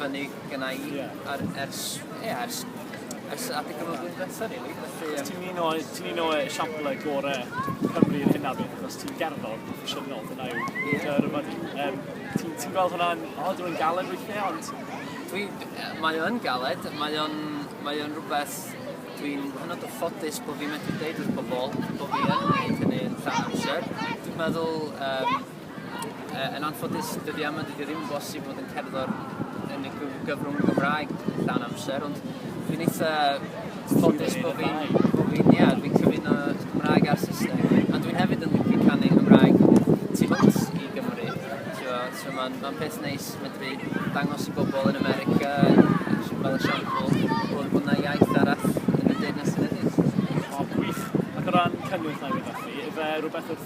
fyny gynna i ar ers ie ers ers adeg o flwyddyn dwetha rili felly yym... Ti'n un o'i ti'n un o esiamplau gore Cymru i'r hyn a beth achos ti'n gerddor proffesiynol dyna yw... Ie. ...dy yrfa di yym ti'n ti'n gweld hwnna'n od yw e'n galed weithie ond... Dwi d- yy mae o yn galed mae o'n mae o'n rwbeth dwi'n hynod o ffodus bo' fi'n medru deud wrth pobol bo' fi yn neud hynny yn llawn amser dwi'n meddwl yym Yn anffodus, dydy yma dydy ddim yn bosib bod yn cerddor yn y gyfrwng Gymraeg llawn amser, ond dwi'n eitha ffodus bod fi'n, bod fi'n, ie, dwi'n cyfuno Cymraeg a'r Saesneg. A dwi'n hefyd yn licio canu Cymraeg tu hwnt i Gymru. So mae'n ma peth neis medru dangos i bobl yn America, fel esiampl, bod yna iaith arall yn y Deyrnas Unedig. O, gwych. Ac o ran cynnwys neu rhywbeth felly, ife rhywbeth wrth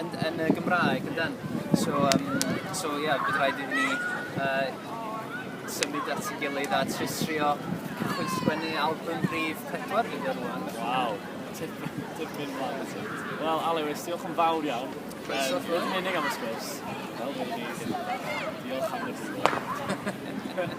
yn yn y Gymraeg yndan? So yym so ie bydd raid iddyn ni yy symud at 'i gilydd a trio trio cychwyn sgwennu albym rhif pedwar fi ar ŵan. Waw. Tipyn tipyn mlan i ti. Wel Alewis diolch yn fawr iawn. Croeso Yym nid yn unig am y sgwrs. Wel mi wn i ddim yn dda. Diolch am y diwrnod.